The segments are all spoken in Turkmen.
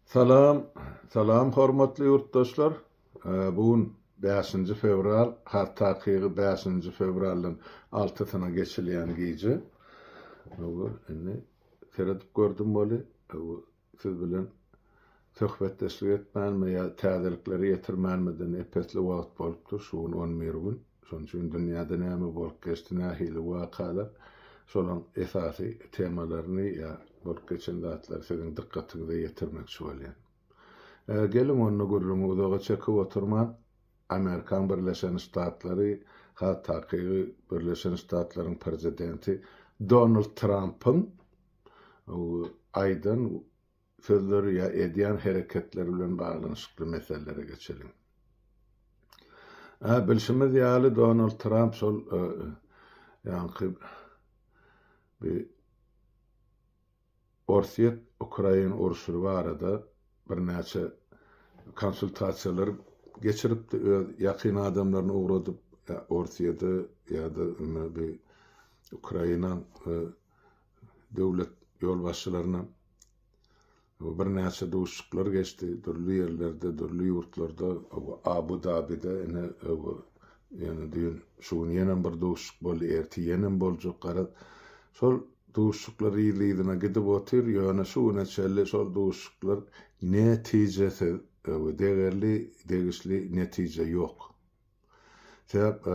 Salam, salam hormatly ýurtdaşlar. Bu gün bäşinji fewral, has takygy bäşinji fewraldan altysyna geçilýän gije. Hawa, indi seredip gördüm weli, hawa, siz bilen söhbetdeşlik etmänmi ýa täzelikleri ýetirmänmiden epesli wagt bolupdyr, şu gün on bir gün. Şonuň üçin dünýäde näme bolup geçdi, nähili wakalar, şolaryň esasy temalaryny ýa bolup geçen zatlary siziň dykgatyňyza ýetirmekçi bolýan. Geliň onda gürrüňi uzaga çekip oturman, Amerikan Birleşen Ştatlary, has takygy Birleşen Ştatlaryň Prezidenti Donald Trampyň aýdan sözleri ýa edýän hereketleri bilen baglanyşykly meselelere geçeliň. A, bilşimiz ýaly Donald Tramp şol ýaňky bi Orsýet Ukrain urşury barada birnäçe konsultasiýalar geçiripdi öz ýakyn adamlaryny ugradyp Orsýede ýa-da bi Ukraina döwlet ýolbaşçylaryna birnäçe duşuşyklar geçdi. Dürli ýerlerde, dürli ýurtlarda, Abu Dabide ine ýöne düýn şu gün ýenem bir duşuşyk boldy, ertir ýenem boljak. Garaz, şol duşuşyklar yzly-yzyna gidip otyr, ýöne şu güne çenli şol duşuşyklar netijesiz, degerli, degişli netije ýok. Sebäp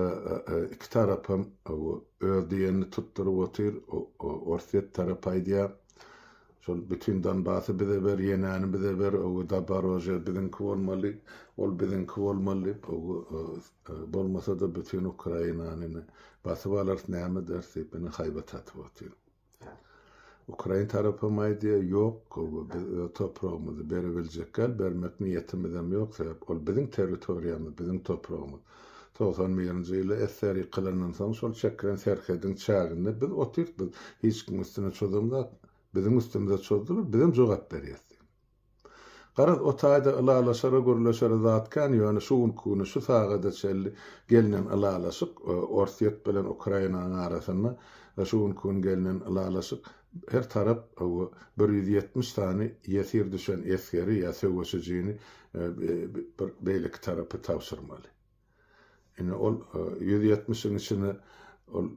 iki tarapam öz diýenini tutduryp otyr. Orsýet tarapy aýdýar, şol bütin Donbasy bize ber, Ýenäni bize ber, Daborožýe biziňki bolmaly, ol biziňki bolmaly diýip, bolmasa-da bütin Ukrainany basyp alarys, näme ederis diýip, ine haýbat atyp otyr. Ukrain tarapam aýdýar, ýok, biz öz topragymyzy berebiljekgäl, bermek niýetimizem ýok, sebäp ol biziň territoriýamyz, biziň topragymyz. Togsan birinji ýyly SSR ýykylandan soň şol çekilen serhediň çäginde biz otyrys, biz hiç kimiň üstüne çozamzok, biziň üstümize çozdular, bizem jogap berýäs diýip. Garaz, o taýda ylalaşara, gürleşere zat kän, ýöne şu günki güni, şu sagada çenli gelnen ylalaşyk, Orsýet bilen Ukrainanyň arasynda şu günki gün gelnen ylalaşyk, her tarap bir ýüz ýetmiş sany ýesir düşen esgeri ýa söweşijini beýleki tarapa tabşyrmaly. Indi ol ýüz ýetmişiň içinde ol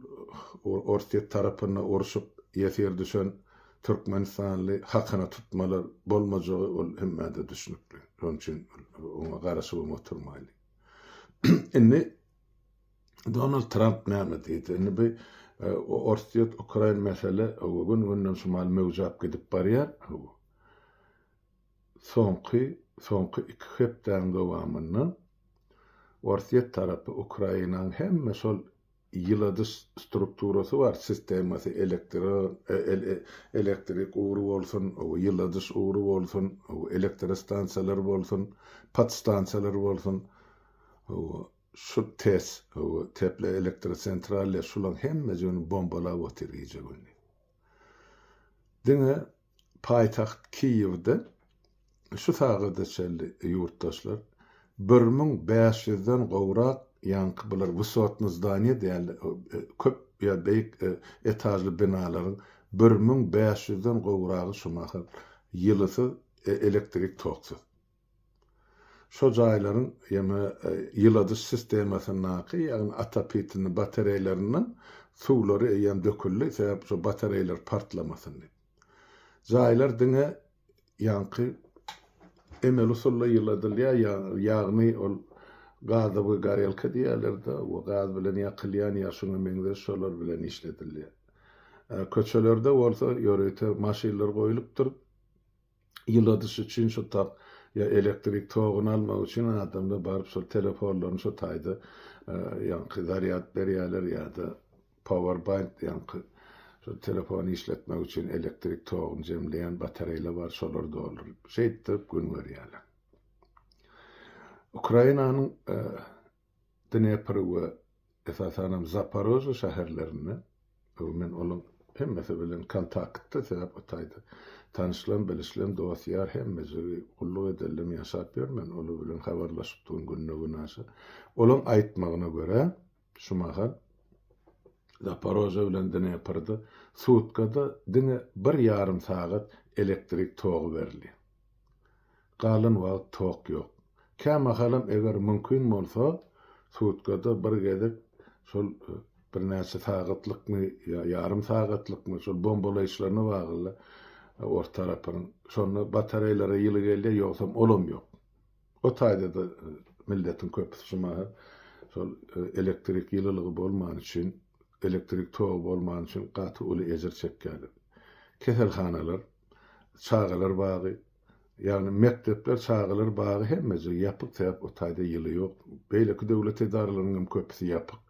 Orsýet tarapynda urşup ýesir düşen türkmenistanly hakyna tutmalar bolmajagy ol hemmä-de düşnükli. Şonuň üçin oňa garaşybam oturmaýly. Indi Donald Tramp näme diýdi? Indi bu e, Orsýet-Ukrain mesele gün-günden şumal möwjäp gidip barýar. Soňky soňky iki hepdäň dowamynda Orsýet tarapy Ukrainaň hemme şol ýyladyş strukturasy bar, sistemasy, elektro elektrik ugry bolsun, ýyladyş ugry bolsun, elektrostansiýalar bolsun, podstansiýalar bolsun, şu TES, teploelektrosentralýa, şulaň hemmejigini bombalap otyr gije-gündiz. Diňe Paýtagt Kiýewde şu sagada çenli ýurtdaşlar bir müň bäş ýüzden gowrak ýaňky bular wysotny zdaniýa däldi, köp ýa beýik etažly binalaryň bir müň bäş ýüzden gowragy şu mahal ýylysyz, elektrik toksuz. Şo jaýlaryň ýene ýyladyş sistemasyndaky, ýagny atopitlny batareýlerinden suwlary eýýäm döküldi, sebäp şo batareýler partlamasyn diýip. Jaýlar diňe ýaňky emeli usulda ýyladylýar, ýagny ol gazowy gorelka diýýärler-de, we gaz bilen ýakylýan ýa şuňa meňzeş şolar bilen işledilýär. Köçelerde bolsa ýörite maşynlar goýlupdyr. ýyladyş üçin şu tak ýa elektrik toguny almak üçin adamlar baryp şol telefonlaryny şu taýda ýaňky zarýad berýärler ýa-da powerbank ýaňky şu telefony işletmek üçin elektrik toguny jemleýän batareýler bar şolary dolduryp şeýtdirip gün görýärler. Ukrainanyň Dnepr we esasanam Zaparoža şäherlerinde, öň men olaň hemmesi bilen kontaktda sebäp o taýda tanyşlan, bilişlen, dost, ýar hemmejigi gulluk edenlem ýaşap ýör, men olar bilen habarlaşypdygym günde-günaşa. Olaň aýtmagyna görä, şu mahal Zaparoža bilen Dneprda sutkada diňe bir ýarym sagat elektrik togy berilýär. Galan wagt tok ýok. Kämahalam eger mümkin bolsa, sutkada bir gezek şol birnäçe sagatlykmy ýa ýarym sagatlykmy şol bombalaýyşlaryna bagly ors tarapynyň. Şonda batareýlara ýyly gelýär, ýogsam olam ýok. O taýda-da milletiň köpüsi şu mahal şol elektrik ýylylygy bolmany üçin, elektrik togy bolmany üçin gaty uly ejir çekýärler. Keselhanalar. çagalar bagy, ýagny mekdepler, çagalar bagy hemmeje ýapyk, sebäp o taýda ýyly ýok. Beýleki döwlet edaralarynyň hem köpüsi ýapyk.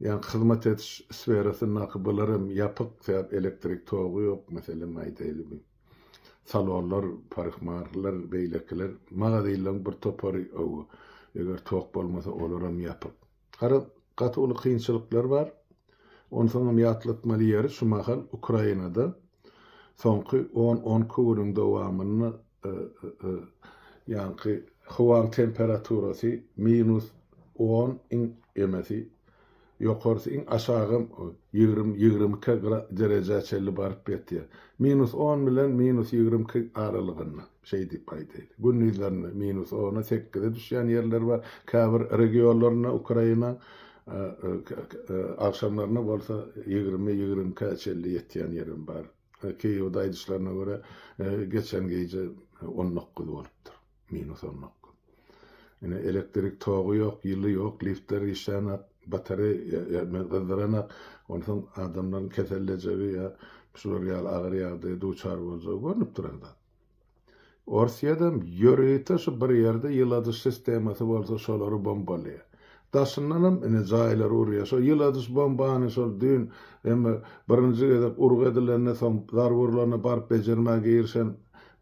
Ýagny hyzmat ediş sferasyndaky bular hem ýapyk, sebäp elektrik togy ýok, meselem aýdaýlyby. Salonlar, parykmahrlar, beýlekiler, magazynlaryň bir topary, hawa, eger tok bolmasa, olar hem ýapyk. Garaz, gaty uly kynçylyklar bar. Onsoňam ýatlatmaly ýeri, şu mahal Ukrainada soňky on-on iki günüň dowamynda ýaňky howaň temperaturasy minus on, iň emesi, ýokarsy, iň aşagam ýigrimi, ýigrimi iki derejä çenli baryp ýetýär. Minus on bilen minus ýigrimi iki aralygynda. Şeý diýip gaýt eýdi. Gündizlerine minus ona sekize düşýän ýerler bar. Käbir regionlarynda Ukraina agşamlaryna bolsa ýigrimi, ýigrimi ikä çenli ýetýän ýerem bar. Kiýewde aýdyşlaryna görä, geçen gije on dokuz bolupdyr, minus on dokuz. Ine, elektrik togy ýok, ýyly ýok, liftler işlänok, batareýa gyzdyranak. Onsoň adamlaryň kesellejegi ýa şular ýaly agyr ýagdaýa duçar boljagy görnüp duran zat. Orsýedem ýörite şu bir ýerde ýyladyş sistemasy bolsa şolary bombalaýar. Daşyndanam ine jaýlary urýar. Şo ýyladyş bombany şol düýn emme birinji gezek urgy edilende soň zarba urlanda baryp bejermä girişen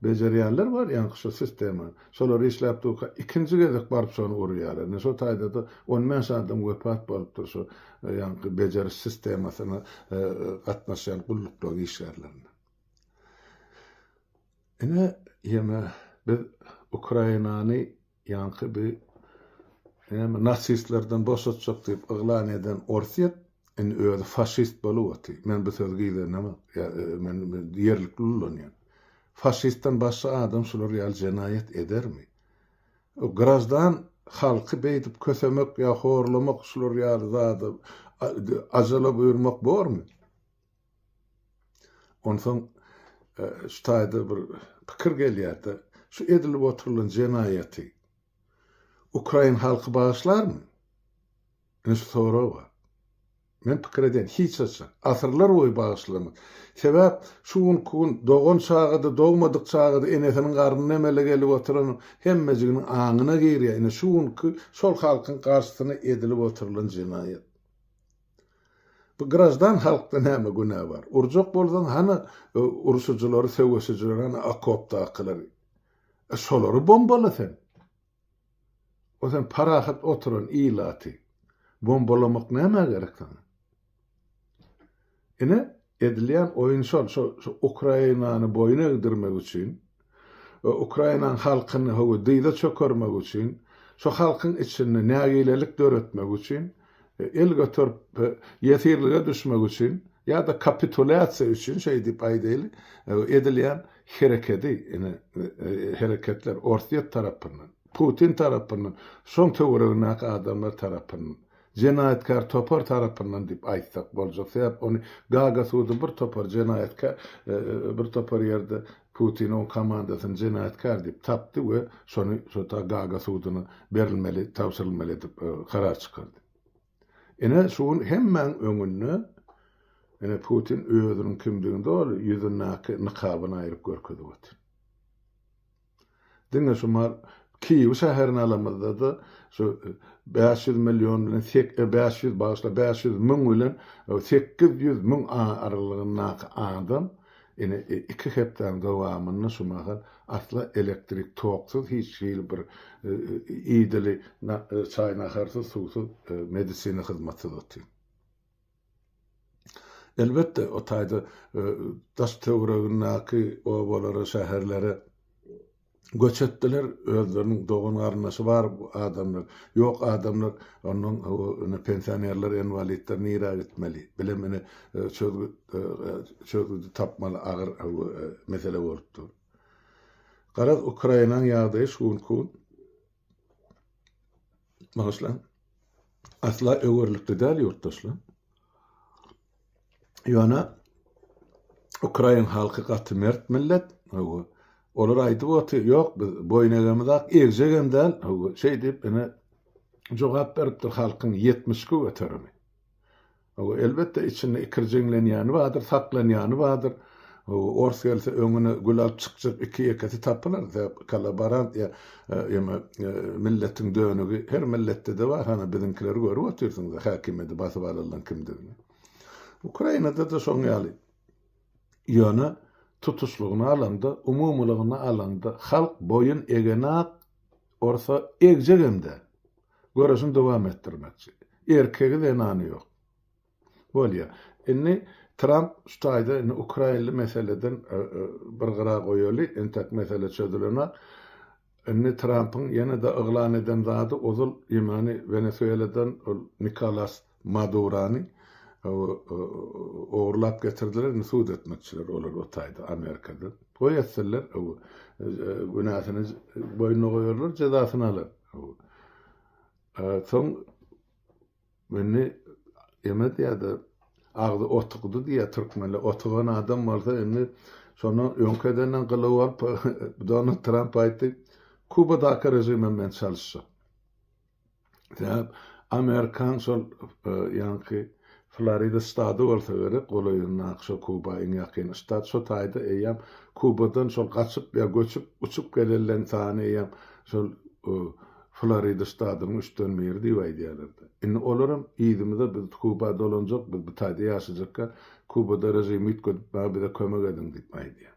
bejerýänler bar ýaňky şo sistemany. Şolar işläp durka ikinji gezek baryp şony urýarlar. Ine şo taýdada on bäş adam wepat bolupdyr şo ýaňky bejeriş sistemasyna gatnaşýan gulluklaň işgärlerinden. Ine, ýene biz Ukrainany ýaňky bi näme nasistlerden boşatjak diýip yglan eden Orsýet indi özi faşist bolup oty. Men bu sözi gizlenamok. Ýa men ýerlikli ullanýan. Faşistden başga adam şular ýaly jenaýat edermi? O graždan halky beýdip kösemek ýa horlamak şular ýaly zada ajala buýurmak bormy? Onsoň şu taýda bir pikir gelýärdi. Şu edilip oturylan jenaýaty ukrain halky bagyşlarmy? Ine şu sorag bar. Men pikir edýän, hiç haçan. Asyrlar boýy bagyşlamaz. Sebäp şu günki gün dogan çaga-da, dogmadyk çaga-da enesiniň garnyna emele gelip oturan hemmejiginiň aňyna girýär. Ine şu günki şol halkyň garşysyna edilip oturylan jenaýat. Bu graždan halkda näme günä bar? Urjak bolsaň hany urşujylary söweşijileri hany okopdakylary? E şolary bombala sen. O sen parahat oturan ilaty bombalamak nämä gerek saňa? Ine Edilýän oýun şol, şo şu Ukrainany boýun egdirmek üçin we Ukrainaň halkyny howa dyza çökermek üçin, şo halkyň içinde nägilelik döretmek üçin, el göterip ýesirlige düşmek üçin ýa-da kapitulýasiýa üçin şeý diýip aýdaýly, edilýän herekedi, ine, hereketler Orsýet tarapyndan, Putin tarapyndan, şoň töweregindäki adamlar tarapyndan jenaýatkär topar tarapyndan diýip aýtsak boljak, sebäp ony Gaga sudy bir topar jenaýatkär, bir topar ýerde Putini oň komandasyny jenaýatkär diýip tapdy we şony şota Gaga sudyna berilmeli, tabşyrylmaly edip karar çykardy. Ine şu gün hemmäň öňünde ine Putin özüniň kimdigini doly ýüzündäki nykabyny aýryp görkezip otyr. Diňe şu Kiýew şäherini alamyzda-da, şu bäş ýüz million bilen sek, e, bäş ýüz, bagyşla, bäş ýüz müň bilen sekiz ýüz müň aralygyndaky adam, ine, iki hepdäniň dowamynda şu mahal asla elektrik toksyz, hiç hili bir idili çaý-naharsyz, suwsyz, medisina hyzmatsyz otyr. Elbetde, o taýda daş-töweregindäki obalara, şäherlere göç etdiler, özleriniň dogan-garyndaşy bar adamlar, ýok adamlar, onnoň ine pensionerler, enwalidler nirä gitmeli? Bilem ine çözgüt çözgüdi tapmaly agyr mesele bolup dur. Garaz, Ukrainaň ýagdaýy şu günki gün Bagyşlaň. Asla öwerlikli däl ýurtdaşlar. Ýöne Ukrain halky gaty mert millet. Hawa. Olar aýdyp otyr, ýok biz boýun egemiz ak, egjek hem däl. Hawa. Şeýdip ene jogap beripdir halkyň 72 göterimi. Hawa, elbetde, içinde ikirjiňlenýäni bardyr, saklanýany bardyr. Ors gelse, öňüne gül alyp çykjak iki-ýekesi tapylar, sebäp kollaborant ýa ýa-da milletiň dönügi her milletde-de bar, hany biziňkileri görüp otyrsyňyz-a, häkimiýeti basyp alylan kimdigini. Ukrainada-da şoň ýaly. Ýöne tutuşlygyna alanda, umumylygyna alanda, halk boýun egenok. Orsa egjegem-dä. Göreşini dowam etdirmekçi. Erkegi, zenany ýok. Bolýar. Indi Tramp şu taýda indi ukrainli meseleden bir gyra goýaly, entek mesele çözülenak. Indi Trampyň ýene-de yglan eden zady ozal ýemany Wenesueladan ol Nikolas Madurany ogurlap getirdiler indi sud etmekçiler olar o taýda Amerikada. Toý etseler günäsini boýnuna goýarlar jezasyny alar. Soň indi eme diýýärdi agzy otugdy diýýär türkmenler otugan adam bolsa indi şonu öňkedenden gylyw alyp Donald Tramp aýtdy Kubadaky režimem men çalyşjak. Sebäp amerikan şol ýaňky Florida ştady bolsa gerek, golaýyndaky şo Kuba iň ýakyn ştat, şo taýda eýýäm Kubadan şol gaçyp ýa göçüp, uçup gelenleň sany eýýäm şol Florida ştadynyň üçden biri diýip aýdýarlarda. Indi olaram yzymyza biz Kuba dolanjak, biz bu taýda ýaşajakka Kubada režimi üýtgedip maňa bize kömek ediň diýip aýdýar.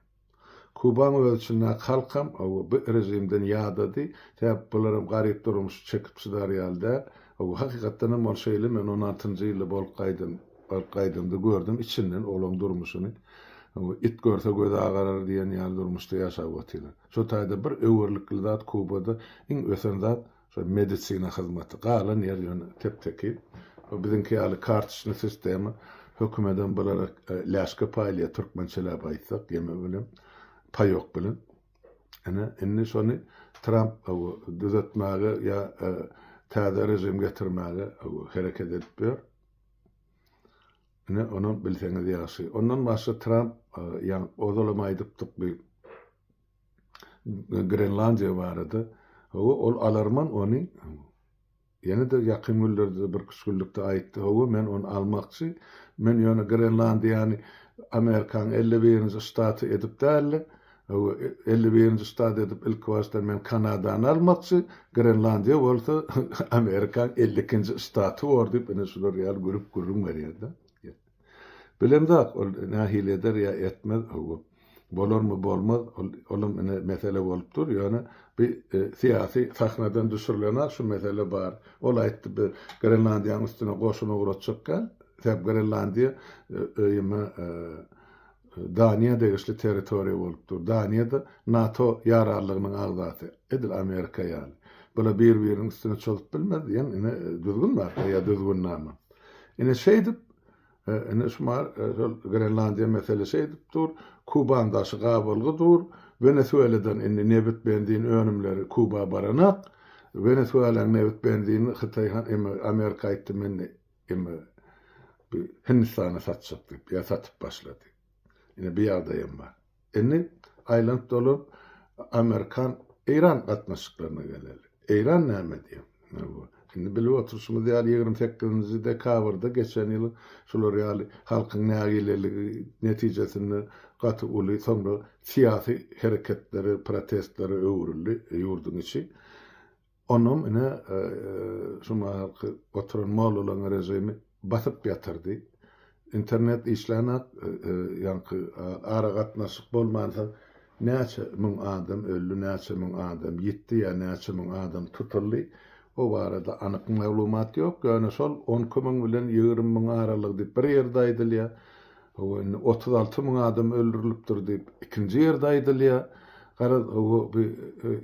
Kubaň özi çynlak halkam owo bu rejimden ýadady, sebäp bularam garyp durmuşy çekip çydar ýaly däl. Owo hakykatdanam ol şeýle men on altynjy ýylda bolup gaýdym, baryp gaýdamda gördüm içinden olaň durmuşyny. Owo it görse gözi agarar diýen ýaly durmuşda ýaşap otylar. Şo taýda bir öwerlikli zat Kubada iň ösen zat Şol medisina hyzmaty. Galan ýer ýöne tep-tekiz. Şo biziňki ýaly kartoçny sistema. Hökümedem bulara läşke paýlaýar, türkmençeläp aýtsak, ýeme bilen, paýok bilen. Ine, indi şony Tramp düzetmäge ýa täze režim getirmäge hereket edip ýör. Ine, onam bilseňiz ýagşy. Ondan başga Tramp, ýa ozalam aýdypdyk bi, Grenlandiýa barada. Hawa, ol alarman ony. Ýene-de ýakyn günlerde, birküç günlükde aýtdy. Hawa, men ony almakçy. Men ýöne Grenlandiýany Amerikanyň elli birinji ştaty edip däl-de, hawa, elli birinji ştat edip ilkibaşdan men Kanadany almakçy, Grenlandiýa bolsa Amerikanyň elli ikinji ştaty bor diýip, ine şular ýaly gülüp gürrüň berýär-de. Bilemzok, ol nähili eder ýa etmez, hawa. Bolarmy, bolmaz, ol, olam ine mesele bolup dur, ýöne bi syýasy sahnadan düşürilen-ä şu mesele bar. Ol aýtdy, bi Grenlandiýanyň üstüne goşun ugratjakka, sebäbi Grenlandiýa öýüme Daniýa degişli territoriýa bolup dur. Daniýa-da NATO ýararlygynyň agzasy, edil Amerika ýaly. Bular bir-biriniň üstüne çozup bilmez diýen ine düzgün bar, ýa düzgünnama. Ine şeýdip, ine şu mar şol Grenlandiýa mesele şeýdip dur, Kuban daşy gabalgy dur, Wenesueladan indi nebit benzin önümleri Kuba baranak, Wenesuelaň nebit benzini Hytaý han eme Amerika aýtdy men eme Hindistana satjak diýip ýa satyp başlady. Ine bu ýagdaýam bar. Indi aýlanyp-dolanyp amerikan-eýran gatnaşyklaryna geleli. Eýran näme diýýär? Indi bilip oturyşymyz ýaly, ýigrimi sekizinji dekabrda geçen ýyl şular ýaly halkyň nägileligi netijesinde gaty uly, soňra syýasy hereketlere, protestlere öwrüldi ýurduň içi. Onam ine şu mahalky oturan mollalaň režimi basyp ýatyrdy. Internet işlänok, ýaňky aragatnaşyk bolmansoň näçe müň adam öldi, näçe müň adam ýitdi ýa näçe müň adam tutuldy, o barada anyk maglumat ýok, ýöne şol on iki müň bilen ýigrimi müň aralygy diýip bir ýerde aýdylýar. Hawa, indi otuz alty müň adam öldürilipdir diýip, ikinji ýerde aýdylýar. Garaz, bu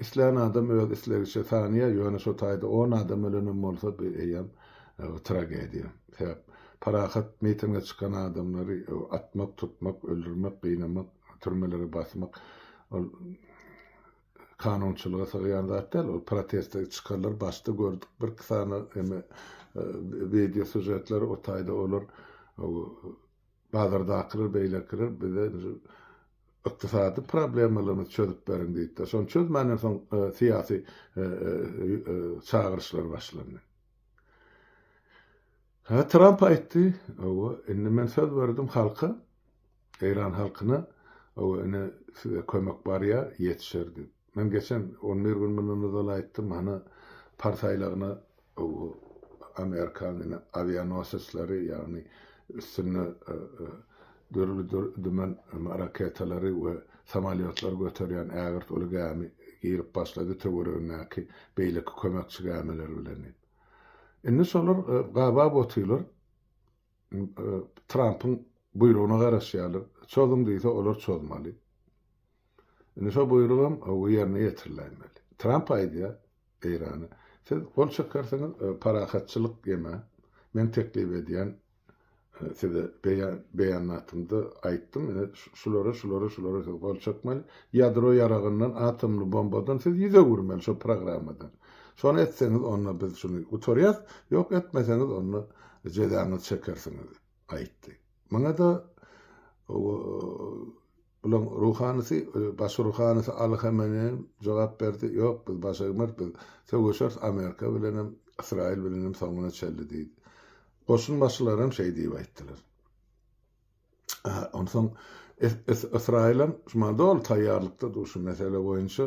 islän adam öz islegiçe sanýar, ýöne şo taýda on adam ölenem bolsa, bu eýýäm tragediýa. Sebäp, parahat mitinge çykan adamlary atmak, tutmak, öldürmek, gynamak, türmelere basmak, ol. kanunçylyga sygýan zat däl ol proteste çykarlar başda gördük bir iki sany eme wideo sujetleri o taýda olar bazardakylar beýlekiler bize ykdysady problemalarymyzy çözüp beriň diýipdir. Şony çözmänden soň e, syýasy e, e, çagyryşlar başlandy. Ha Tramp aýtdy, indi men söz berdim halka, Eýran halkyna ow ine size kömek barýa ýetişer diýip. Men geçen on bir gün mundan ozal aýtdym hany Pars aýlagyna ow Amerikan ine awianosesleri ýagny üstünde dürli dümen raketalary we samolýotlary göterýän ägirt uly gämi girip başlady töweregindäki beýleki kömekçi gämiler bilen diýip. Indi şolar gabap otylar Trampyň buýrugyna garaşýarlar. Çozuň diýse, olar çozmaly. Indi şo buýrugam ýerine ýetiriläýmeli. Tramp aýdýar Eýrana, siz gol çekersiňiz, parahatçylyk ýeme, men teklip edýän size beýanatymda aýtdym, ine şulara, şulara, şulara siz gol çekmeli, ýadro ýaragyndan, atomly bombadan siz ýüz öwürmeli şo programmadan. Şony etseňiz onda biz şuny gutarýas, ýok etmeseňiz onda jezaňyzy çekersiňiz aýtdy. Muňada bulaň ruhanysy, baş ruhanysy Aly Hameneý jogap berdi, ýok biz baş egmeris, biz söweşeris Amerika bilenem, Ysraýyl bilenem soňuna çenli diýdi. Goşun başylary hem şeý diýip aýtdylar. Onsoň Ysraýylam şumal doly taýýarlykda dur şu mesele boýunça,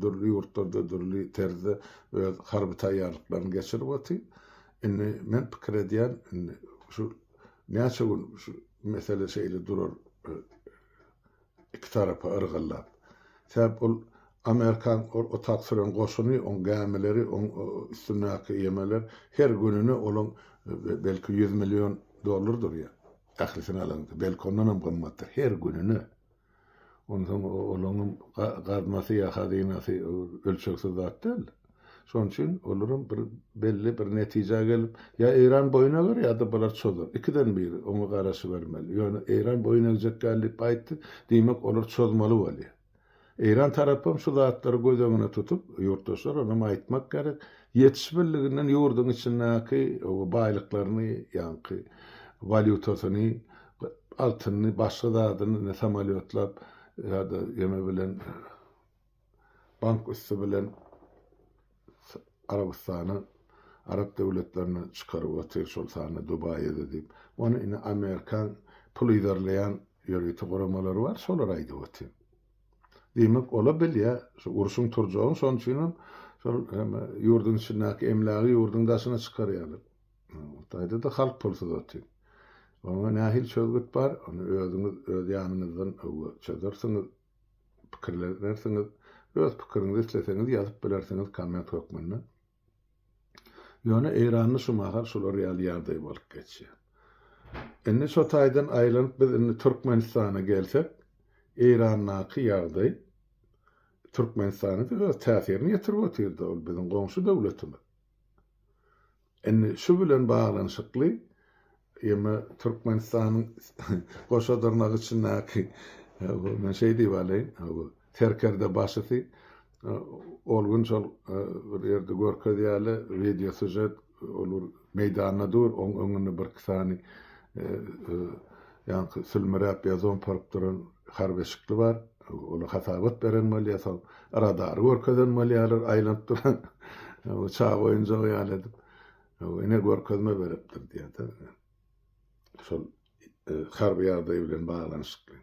dürli ýurtlarda dürli terzde öz harby taýýarlyklaryny geçirip otyr. Indi men pikir edýän, indi şu näçe gün şu mesele şeýle durar, Iki tarapa yrgyllap. Sebäp ol Amerikan ol otak süren goşuny, oň gämileri, oň üstündäki ýemeler her gününe olaň belki ýüz million dollar durýar. Ählisini alanda. Belki ondanam gymmatdyr. Her gününe. Onsoň olaňam gaznasy ýa hazynasy ölçegsiz zat däl. Şonuň üçin olaram bir belli bir netijä gelip, ýa Eýran boýun eger, ýa-da bular çozar. Ikiden biri, oňa garaşybermeli. Ýöne Eýran boýun egjek däl diýip aýtdy, diýmek, olar çozmaly bolýar. Eýran tarapam şu zatlary göz öňüne tutup, ýurtdaşlar onam aýtmak gerek, ýetişibildiginden ýurduň içindäki baýlyklaryny, ýaňky walýutasyny, altynyny, başga zadyny indi samolýotlap ýa-da ýeme bilen bank üsti bilen Arabystana, Arap döwletlerine çykaryp otyr, şol sanda Dubaýa-da diýip. Ony indi amerikan pul yzarlaýan ýörite guramalary bar, şolar aýdyp otyr. Diýmek, ol-a bilýär, şu urşuň turjagyny, şonuň üçinem şol ýurduň içindäki emlägi ýurduň daşyna çykarýarlar. Hytaýda-da halk pulsuz otyr. Oňa nähili çözgüt bar, ony özüňiz öz ýanyňyzdan öwre çözersiňiz. pikirlenersiňiz. Öz pikiriňizi isleseňiz ýazyp bilersiňiz komment hökmünde. Ýöne Eýranda şu mahal şular ýaly ýagdaý bolup geçýär. Indi şo taýdan aýlanyp biz indi Türkmenistana gelsek, Eýrandaky ýagdaý Türkmenistana öz täsirini ýetirip otyr-da, ol biziň goňşy döwletimiz. Indi şu bilen baglanyşykly ýeme Türkmenistanyň goşa dyrnak içindäki men şeý diýip alaýyn, serkerde başysy ol gün şol bir ýerde görkezýärler wideo sýužet, ol bir meýdanda dur, oň öňünde birki sany ýaňky sülmüräp ýa zomporyp duran harby şykly bar, olar hasabat beren bolýar, soň radary görkezen bolýarlar, aýlanyp duran uçak oýunjagy ýaly edip, ine görkezme beripdir diýýärdi. Şol harby ýagdaý bilen baglanyşykly.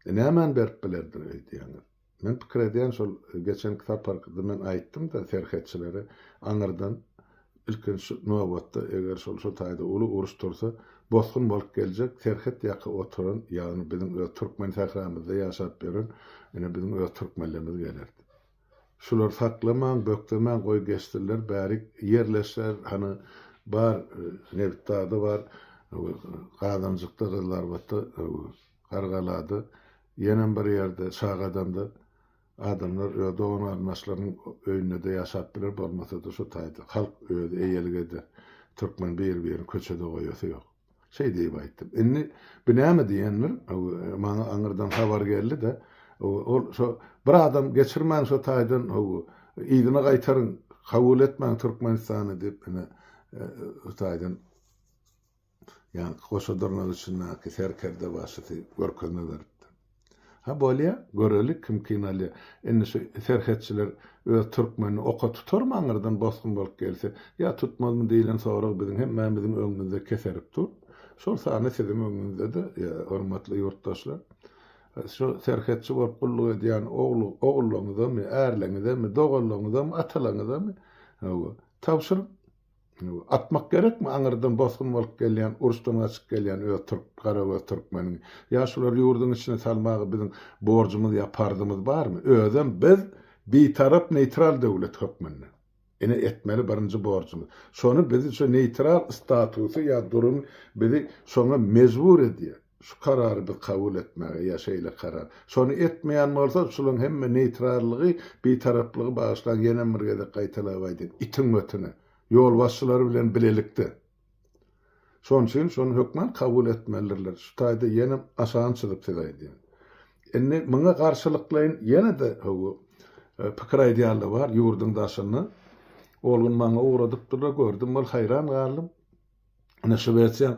E nämäni berip bilerdir öýdýäňiz? Men pikir edýän şol geçenki saparky men aýtdym-da serhetçilere aňyrdan ilkinji nobatda eger şol şu taýda uly uruş tursa bosgun bolup geljek serhet ýaka oturan ýagny biziň öz türkmen sähramyzda ýaşap ýören ine biziň öz türkmenlerimiz geler diýip. Şular saklamaň bökdemaň goý geçsinler bärik ýerleşer hany bar nebit dagda bar gazanjykda gyzlarbatda gargalada Ýenem bir ýerde çaga adamda adamlar öz dogan garyndaşlarynyň öýündede ýaşap biler bolmasada şu taýda halk özi eýelik eder türkmen bir birini köçede goýasy ýok şeý diýip aýtdym indi bi näme diýendir maňa aňyrdan habar geldide ol şo bir adam geçirmäň şo taýdan howu yzyna gaýtaryň kabul etmäň türkmenistany diýip ine şu taýdan Ýaňky goşa dyrnak içindäki serkerde başysy görkezme beripdi. Ha bolýa, göreli kim kyn alýa. Indi şu serhetçiler öz türkmenini oka tutarmy aňyrdan bosgun bolup gelse? Ýa tutmazmy diýlen sorag biziň hemmämiziň öňümizde keserip dur. Şol sanda siziň öňüňizde-de, hormatly ýurtdaşlar. Şu serhetçi bolup gulluk edýän ogullaňyzamy, ärleňizemi, doganlaňyzamy, atalaňyzamy, hawa, tabşyryň. Atmak gerekmi aňyrdan bosgun bolup gelýän, uruşdan gaçyp gelýän öz türk, garagöz türkmeniňi? Ýa şulary ýurduň içine salmaga biziň borjumyz ýa parzymyz barmy? Özem biz bitarap, neýtral döwlet hökmünde. Ine etmeli birinji borjumyz. Şony bizi şu neýtral statusy ýa durumy bizi şoňa mejbur edýär. Şu karary biz kabul etmäge ýa şeýle karar. Şony etmeýän bolsa, şulaň hemme neýtrallygy, bitaraplygy bagyşlaň ýenem bir gezek gaýtalap aýdyn, itiň ötüne. Ýolbaşçylary bilen bilelikde. Şon üçin şony hökman kabul etmelidirler. Şu taýda ýenem aşagyn çyzyp size aýdýan. Indi muňa garşylyklaýyn ýene-de howu pikir aýdýanlar bar ýurduň daşynda. Ol gün maňa ugradypdyrlar, gördüm, ol haýran galdym. Ine, Şwesiýanyň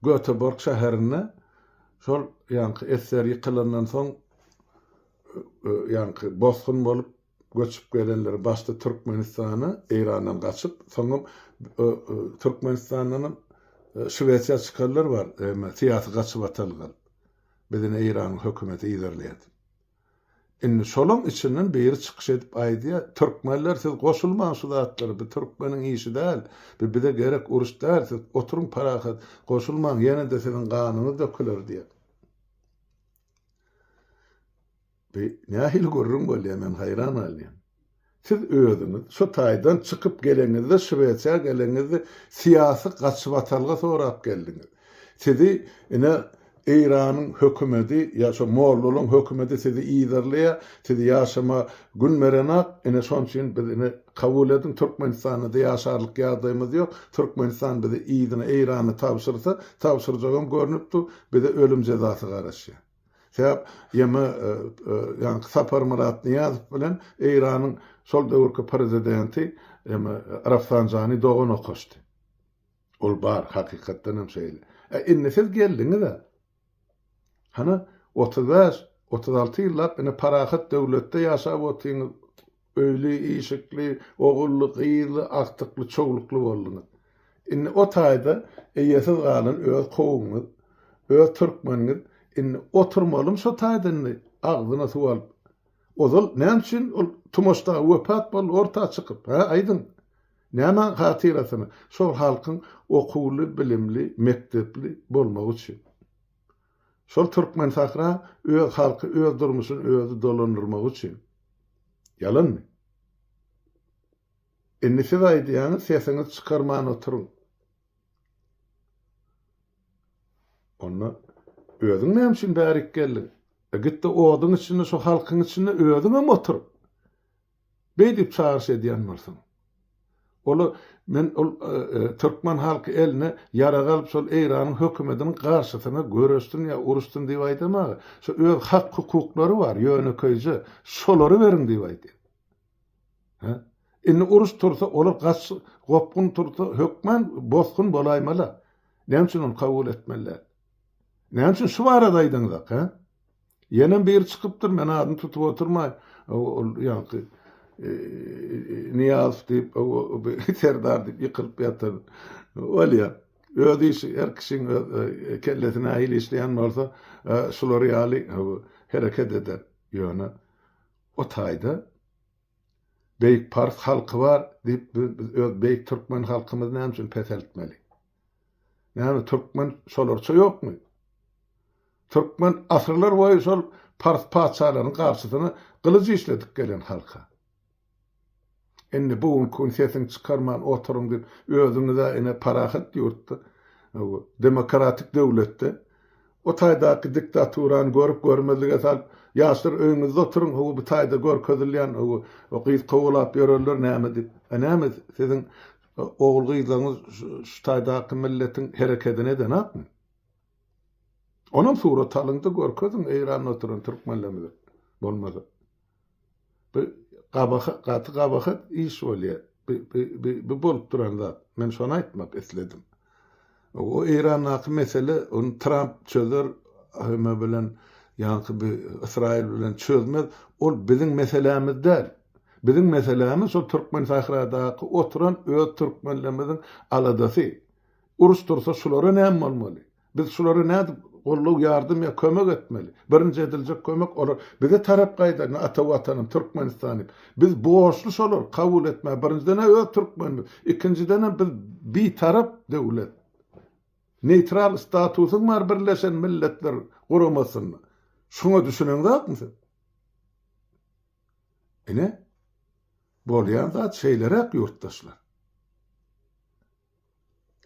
Göteborg şäherinde şol ýaňky esser ýykylandan soň ýaňky bosgun bolup göçüp gelenler başda Türkmenistana, Eýrandan gaçyp, soňam Türkmenistandanam Şwesiýa çykanlar bar, syýasy gaçybatalgan. Biz ine Eýranyň hökümeti yzarlaýar. Indi şolaň içinden biri çykyş edip aýdýa, Türkmenler siz goşulmaň şu zatlara, bu türkmeniň işi däl, bu bize gerek uruş däl, siz oturyň parahat, goşulmaň, ýene-de siziň ganyňyz döküler diýýä. Bu nähili gürrüň bolýa, men haýran galýan. Siz özüňiz şu taýdan çykyp geleňizde, Şwesiýa geleňizde syýasy gaçybatalga sorap geldiňiz. Sizi ine Eýranyň hökümedi ýa şo mollalaryň hökümedi sizi yzarlaýar, siz ýaşama gün berenak, ine şon üçin biz ine kabul ediň Türkmenistanda-da ýaşarlyk ýagdaýymyz ýok, Türkmenistan bizi yzyna Eýrana tabşyrsa, tabşyrjagam görnüp dur, bize ölüm jezasy garaşýar. Sebäp ýeme ýaňky Saparmyrat Nyýazow bilen Eýranyň şol döwürki prezidenti ýeme Rafsanjani dogan okaşdy. Ol bar, hakykatdan hem şeýle. Ä indi siz geldiňiz-ä. Hany otuz bäş, otuz alty ýyllap ine parahat döwletde ýaşap otyňyz. Öýli-işikli, ogully-gyzly, agtykly-çoglukly bolduňyz. Indi o taýda eýesiz galan öz kowumyňyz, öz türkmeniňiz indi oturmalym şo taýda indi agzyna suw alyp. Ozal näme üçin ol Tumaş dagy wepat boldy orta çykyp, hä, aýdyň? Näme hatyrasyna? Şol halkyň okuwly, bilimli, mekdepli bolmagy üçin. Şol türkmen sahra öz halky öz durmuşyny özi dolandyrmagy üçin. Ýalanmy? Indi siz aýdýaňyz sesiňizi çykarman oturyň. Onda özüň näme üçin bärik geldiň? Gitde oduň içinde şu halkyň içinde özüňem otur. Beý diýip çagyryş edýän bolsaň. Ola men ol türkmen halky eline ýarag alyp şol Eýranyň hökümediniň garşysyna göreşsin ýa uruşsyn diýip aýdamaga, şu öz hak hukuklary bar ýönekeýje şolary beriň diýip aýdýan. Hä? Indi uruş tursa olar gaç gopgun tursa hökman bosgun bolaýmala. Näme üçin ony kabul etmeli däl? Näme üçin şu barada aýdyňyzak hä? Ýenem biri çykypdyr, men adyny tutup oturmaý, ol ýaňky Nyýazow diýip, Serdar diýip ýykylyp ýatan. Bolýar. Öz işi, her kişiň öz kellesi nähili işleýän bolsa, şular ýaly hereket eder. Ýöne o taýda beýik pars halky bar diýip, biz öz beýik türkmen halkymyzy näme üçin peseltmeli? Näme türkmen şolarça ýokmy? Türkmen asyrlar boýy şol pars patyşalarynyň garşysyna gylyj işledip gelen halka. Indi bu günki gün sesiňi çykarman oturyň diýip özüňiz-ä ine parahat ýurtda, demokratik döwletde o taýdaky diktaturany görüp görmezlige salyp ýaşlar öýüňizde oturyň howa bu taýda görkezilýän howa o gyz kowalap ýörenler näme diýip. Näme siziň Ogul-gyzlaryňyz şu taýdaky milletiň herekedini edenokmy? Onam surat alyň-da görkeziň Eýranda oturan türkmenlerimize bolmasa. Bu gabahat, gaty gabahat iş bolýar. Bu bolup duran zat. Men şony aýtmak isledim. O Eýrandaky mesele ony Tramp çözer Ahime bilen ýaňky bi Ysraýyl bilen çözmez ol biziň meselämiz däl. Biziň meselämiz şol Türkmensahradaky oturan öz türkmenlerimiziň aladasy. Uruş tursa şulara näme bolmaly? Biz şulara nädip goldaw ýardam ýa kömek etmeli? Birinji ediljek kömek olar bize tarap gaýda ata watanym Türkmenistan diýip. Biz borçly şolary kabul etmäge, birinjiden-ä öz türkmenimiz, ikinjidenem biz bitarap döwlet. Neýtral statusyň bar Birleşen Milletler Guramasynda. Şuňa düşüneňzakmy siz? Ine, bolýan zat şeýleräk ýurtdaşlar.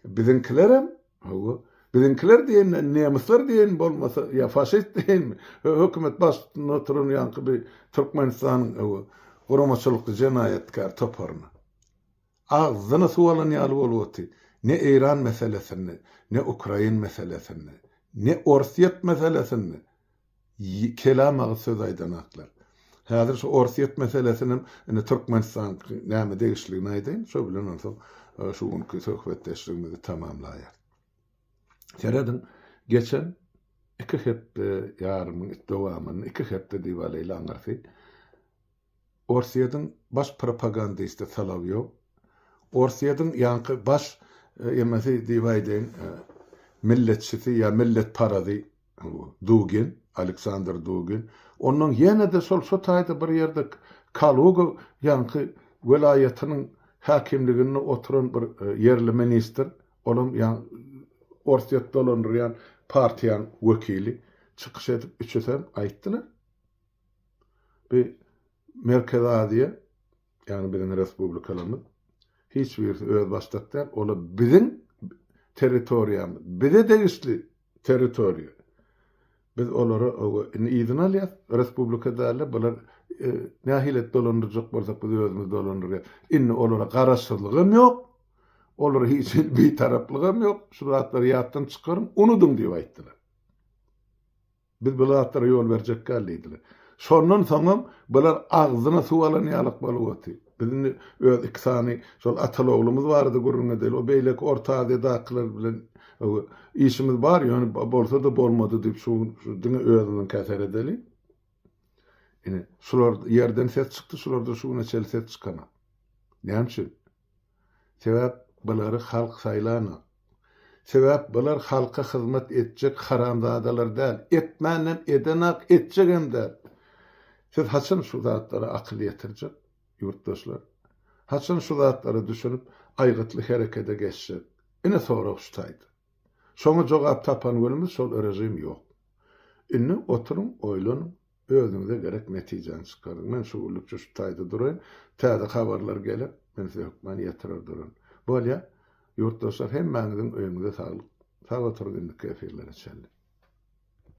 Biziňkilerem, hawa, biziňkiler diýenden nemisler diýen bolmasa, ýa faşist diýen hökümet baştutunda oturan ýaňky bir Türkmenistanyň, hawa, guramaçylykly jenaýatkär toparyna. Agzyny suw alan ýaly bolup otyr. Ne Eýran meselesinde, ne Ukrain meselesinde, ne Orsýet meselesinde Kelam aga söz aýdanaklar. Häzir şu Orsýet meselesinem indi Türkmenistan näme degişligini aýdaýyn, şo bilen onsoň şu günki söhbetdeşligimizi tamamlaýarys. Serediň, geçen iki hepde ýarymyň dowamynda, iki hepde diýip alýly aňyrsy, Orsýetiň baş propagandisti Solowýow, Orsýetiň ýaňky baş emesi diýip aýdaýyn, milletçisi ýa milletparazy Dugin, Aleksandr Dugin, onnoň ýene-de şol şu taýda bir ýerde Kaluga ýaňky welaýatynyň häkimliginde oturan bir ýerli ministr, olam Orsýet dolandyrýan partiýanyň wekili çykyş edip, üçüsem aýtdylar. Bi Merkezi Aziýa, ýagny biziň respublikalarymyz hiç birisi özbaşdak däl, olar biziň territoriýamyz, bize degişli territoriýa. Biz olara oba indi yzyna alýas, respublika däl-de, bular nähili et dolandyrjak bolsak biz özümiz dolandyrýas. Indi olara garaşsyzlygam ýok, olara hiç hili bitaraplygam ýok, şu zatlary ýatdan çykaryň, unudyň diýip aýtdylar. Biz bu zatlara ýol berjekgäl diýdiler. Şondan soňam bular agzyna suw alan ýalak bolup otyr. Biz indi öz iki sany şol ataly-oglumyz barada gürrüň edeli. O beýleki Orta Aziýadakylar bilen işimiz bar, ýöne bolsa-da bolmady diýip şu gün diňe özümiňkä seredeli. Ine, şular ýerden ses çykdy, şulardan şu güne çenli ses çykanok. Näme üçin? Sebäp bulary halk saýlanok. Sebäp bular halka hyzmat etjek haramzadalar däl. Etmänem edenak etjegem däl. Siz haçan şu zatlara akyl ýetirjek ýurtdaşlar? Haçan şu zatlara düşünip aýgytly herekede geçjek? Ine sorag şu taýda. Şoňa jogap tapan günümiz şol režim ýok. Indi oturyň oýlanyň. Özüňize gerek netijäni çykaryň. Men şu günlükçe şu taýda duraýyn. Täze habarlar geler, men size hökmany ýetirer duraryn. Bolýa. Ýurtdaşlar hemmäňiziň öýüňize saglyk. Sag oturyň indiki efirlere çenli.